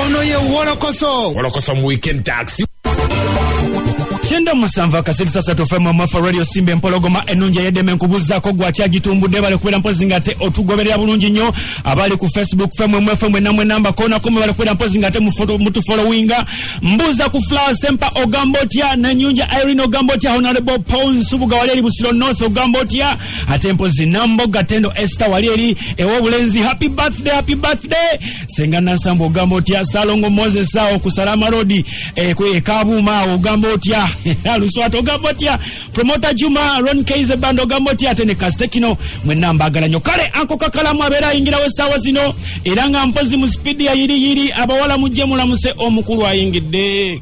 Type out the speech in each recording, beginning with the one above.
ono ye wolokoso wolokoso mu weekend taxi kyenda musanvu akasirisa satu fm mwafa radio simba empologoma enungi eyedeme nkubuzaako gwakyagitumbudde bali kubeera mpozi nga ate otugoberera bulungi nnyo abali ku facebook fm mwe fm enamwe namba konako mwe bali kubeera mpozi nga ate mutufolowinga mbuuza ku flower sempa ogamba otya nanyunja irene ogamba otya honorable paul nsubuga wali eri busiro north ogamba otya ate mpozi namboga tendo ester wali eri ewobulenzi happy birthday happy birthday senga nansamba ogamba otya salongo moses awo ku salama rodi eh, ekabuuma awo ogamba otya aluswata ogamba otya promota juma ron kaize band ogamba otya ate ne kastekino mwenna mbagala nyo kale anko kakalamu abeera ayingirawo essaawa zino era nga mpozi mu sipiidi yayiriyiri abawala mujje mulamuse omukulu ayingidde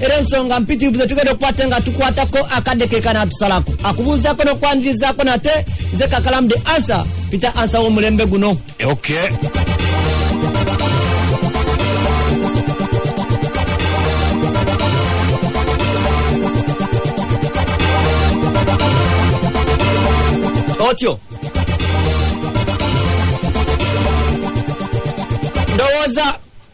era ensonga mpitirivu zetugenda okukwata nga tukwatako akadde keka natusalako akubuuzako nokwanirizaako nate ze kakalamu the answer peter answer womulembe guno okay. otyo ndowooza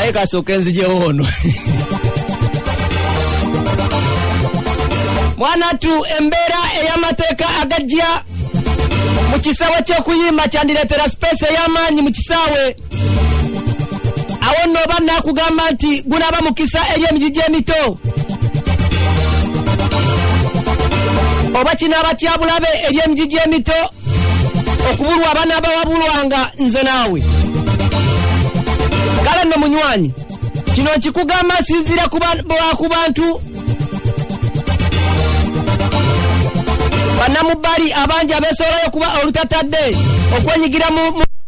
aye kasooka enzijewo ono mwanatu embeera ey'amateeka agajja mu kisaawe ky'okuyimba kyandireetera sipeesi ey'amaanyi mu kisaawe awo nno oba naakugamba nti gunaaba mukisa eri emiji gy'emito oba kinaaba kyabulabe eri emiji gy'emito okubulwa abana abawabulwanga nze naawe kale nno munywanyi kino nkikugamba nsinziira ku bantu banamubbali abangi abesoolayo okuba olutatadde okwenyigira mu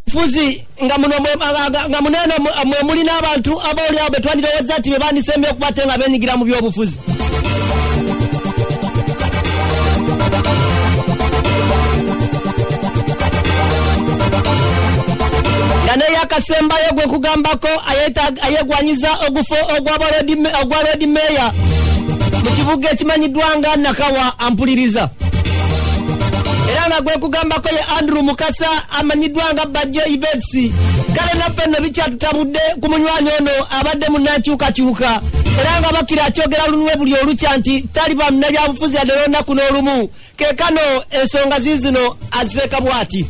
bufuzi nga muno mwe- nga- nga- nga muno eno mwe- mwe muli n'abantu abaolyawo be twandirowooza nti be bandisembye okuba ate nga benyigira mu byobufuzi nga neyakasembayo gwe kugambako ayeta- ayegwanyiza ogufo ogwa ba Lord Me- ogwa lodi meeya mu kibuga ekimanyiddwa nga nakawa ampuliriza era nga gwekugambako ye andrew mukasa amanyiddwa nga bajja ivetsi kale naffe nno bikyatutabudde ku munywanyi ono abadde munankyukakyuka era nga bakira akyogera lunwe buli olukya nti taliba munabyabufuzi yadde lwonaku n'olumu kekano ensonga ziizino azireeka bwati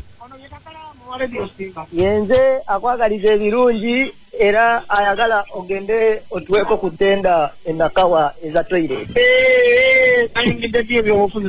yenze akwagaliza ebirungi era ayagala ogende otuweko ku tenda enakawa eza toilet eh, eh, eh, ayingidde byo ebyobufuzi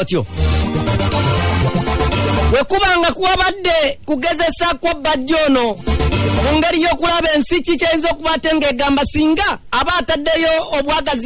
otyo wekuba nga kuwabadde kugezesa kwa bajja ono mu ngeri y'okulaba ensi ki kyeyinza okuba ate ng'egamba singa aba ataddeyo obwagazi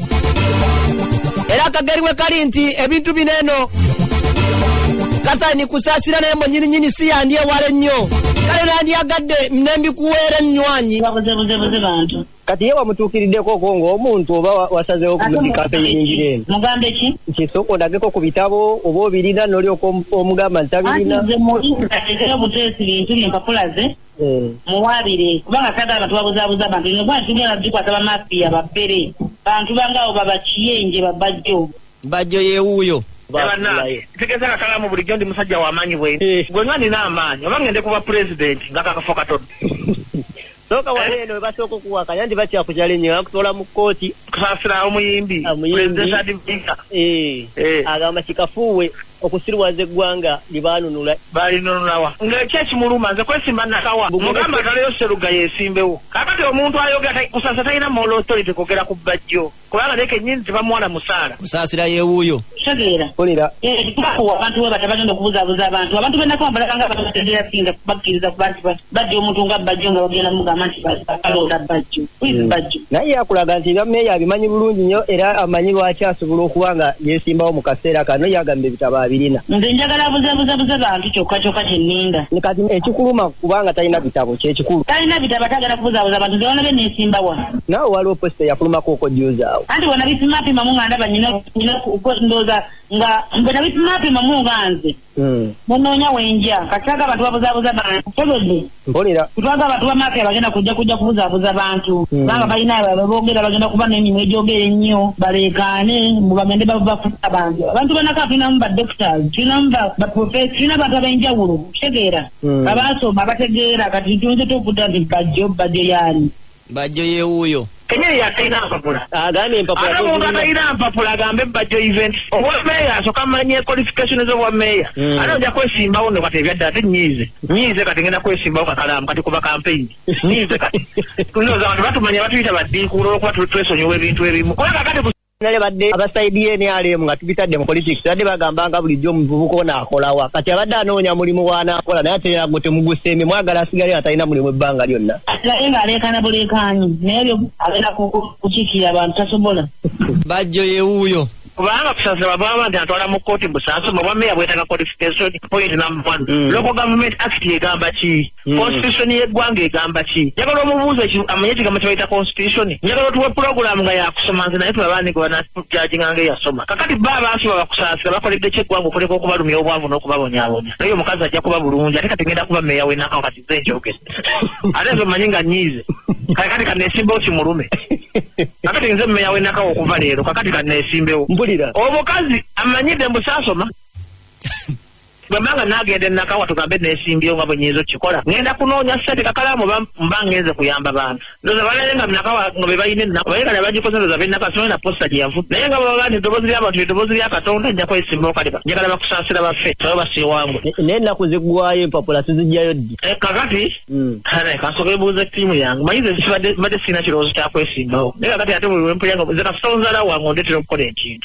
era akageri we kali nti ebintu bino eno kasaini kusasira naye mwenyininyini si yandyewala ennyo kale nandyagadde nembikuweera ennywanyi kati ye wamutuukiriddeko ko ngaomuntu oba wasazewo kumudikampeyingira eno mugambe ki nti soka olageko ku bitabo oba obirina nolyoka omugamba nti tabirina nze mubuteesi bintu byempapula ze hmm. muwaabire kubanga tata abantu babuzaabuza abantu ino kubanga tugenda tukwata bamafiya bafere bantu bangaawo babakiyenje babajjo bajjo yewuuyo tegeza kakalamu bulijjo ndi musajja wamaanyi bwe eh. gwe nga nina amaanyi oba ngende kuba pulezidenti nga kakafo katodde soka wali eh? eno webasooka okuwaka yanti bakyakujala enyo akutoola mu kkooti kusasira omuyimbi ah, eh. agamba kikafuuwe okusiruwaza eggwanga libaanunula balinunulawa ng'ekyo ekimuluma nze kwesimba nakawa mugamba ataleyo seruga yesimbewo kakati omuntu ayogera kusasa talina moral authority kwogera ku bajjo kubanga naye kenyini tebamuwana musaala kusaasira yewuuyo tegeera kolera abantu we batagenda okubuzabuza abantu abantu benakawambalakanga batategeera singa bakkiriza kubantu bajja omuntu nga bajjo nga bagenda mugamba nti akalonda bajjo hmm. bajjo naye yakulaga nti nga meeya abimanyi bulungi nnyo era amanyi lwaki asobola okuba nga yesimbawo mu kaseera kano yagamba ebitabo abirina nze njagala buzabuzabuza bantu kyokka kyokka kyenninda kati ekikuluma kubanga talina bitabo kyekikulu talina bitabo atagala kubuzabuza bantu zewona be nesimbawa naawe waliwo posita eyakulumako okojuuzaawo anti bona bipimapima mu nga ndaba nyina ndooza nga mbona bipimapima mu nga nze Hmm. munoonya wenja kati twaga abantu babuzaabuza bantu tegedde mpulira twaga abantu bamaafia bagenda kujja kujja kubuzaabuza bantu hmm. kubanga balina babogera bagenda kuba n'emirimu egyogera ennyo baleekaane mbu bagende bafuta abantu abantu banaka tulinamu ba doctors tulinamu baprofes tulina abantu ab'enjawulo kitegeera hmm. abaasoma abategeera kati tuyinza tokuda nti bajjo bajjo yaani bajjo yewuuyo kenyini yatalina mpapula agambye empapula ate omuntu atalina mpapula agambe bajjo event obwa meeya asoka manye qualification zobwa meeya hmm. ate oja kwesimbawo no kati ebyadda ate nyiize nyiize kati ngenda kwesimbawo kakalaamu kati kuba kampeyini nyiize kati tunoza abantu batumanya batuyita baddiikuula olwokuba twesonyiwa ebintu ebimu kubanga kati nale badde abasaidi yenrm nga tubitadde mu politics badde bagambanga bulijjo omuvubuka ono akolawa kati abadde anoonya mulimu waanaakola naye ate yago temugusembe mwagala asigale nga talina mulimu ebbanga lyonna naye ng'aleekaana buleekaanyi naye byo abeera kukiikirira abantu tasobola bajjo yewuuyo kubanga kusasaba bwaba nti atwala mu kkooti busaasoma obwa meeya bwetaaga qualification point number one mm. local government act egamba ki Hmm. constitution yeggwanga egamba ki njagala omubuuza amanye ekigambo kyebayita constitution njagala otuwe pulogulaamu nga yakusoma nze naye tulabanige banatujajinga nga eyasoma kakati ba abantu babakusaasira bakoledde kyeggwanga okuleka okubalumya obwavu n'okubabonyabonya naye omukazi ajja kuba bulungi ate kati ngenda kuba meeya wenakawo kati ze njogere ate nze omanyi nga nyiize kale kati kaneesimbewo kimulume kakati nze meeya wenakawo okuva leero kakati kaneesimbewo omukazi amanyidde mbusaasoma bwemanga nagenda enakawa tugambe nesimbyewo nga bwenyinza okikola ngenda kunoonya sente kakalamu mba ngenze kuyamba bantu ndoza balale nga nakawa nga bebalina ennaku baye kale bagikoze ndoza benaka simanyi na posta gyeyavu naye nga baba bani eddoboozi lyabantu eddoboozi lya katonda nja kwesimba okaliba njagala bakusaasira baffe sabe basiiwangu naye ennaku ziggwayo empapula sizijjayo ddi eh, kakati hmm. kale kasoka ebuuza ettiimu yange manyi ze sibadde sirina kirowoozo kyakwesimbawo naye kakati ate buli wempulya nga ze kasita onzala wange ondetera okukola ekintu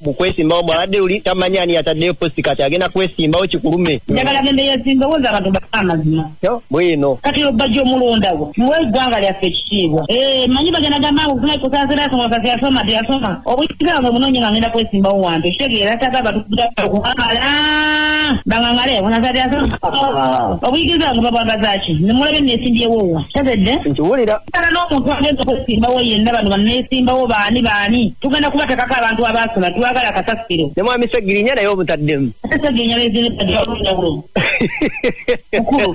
mu kwesimbawo bwabadde uli tamanyi ani yataddeyo posti kati agenda kwesimbawo kikulume njagala gende yesimbewo za abantu baa amazima bwino kati obajja omulondawo muwe eggwanga lyaffe ekitiibwa eh, manyi bagenda gamba kusaasirasomakasi yasoma teyasoma obuyinza bwe munonye nga ngenda kwesimbawo wantu ekitegeera taga batukuamala bangangale bunazati yasoma obuyigiriza bwange babwagazaki nemulabe nesimbyewowa tazedde nkiwulira kala n'omuntu agenza okwesimbawo yenna bano banneesimbawo baani baani tugenda kubatekako abantu abaasula twagala kasasiro ne mwami segirinya naye obutaddemu segirinya bezineaenjawulo mukulu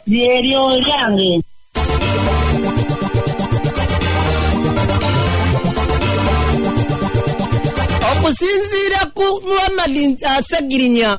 lyeryo lyange okusinziira ku muhammadi asegirinya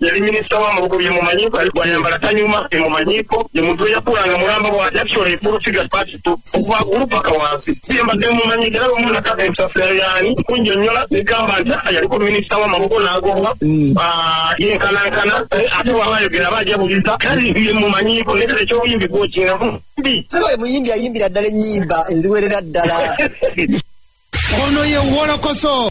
yali minisita wa mubuko byemumanyiiko yali gwayambala tanyuma byemumanyiiko ye muntu eyakulanga mulamba bwa actually full figure party to okuva kulu paka wansi yembadde mumanyiiko era lumu nakaka ensasira yaani kunjonnyola negamba nti ah, yaliko minisita wa mubuko n'agobwa mm. ah, yenkanankana eh, ate waba ayogera aba ajabuliza kale ye mumanyiiko nekale ekyobuyimbi gwokinamu mbi saba ye muyimbi ayimbira ddala ennyimba enziwerera ddala ono ye wolokoso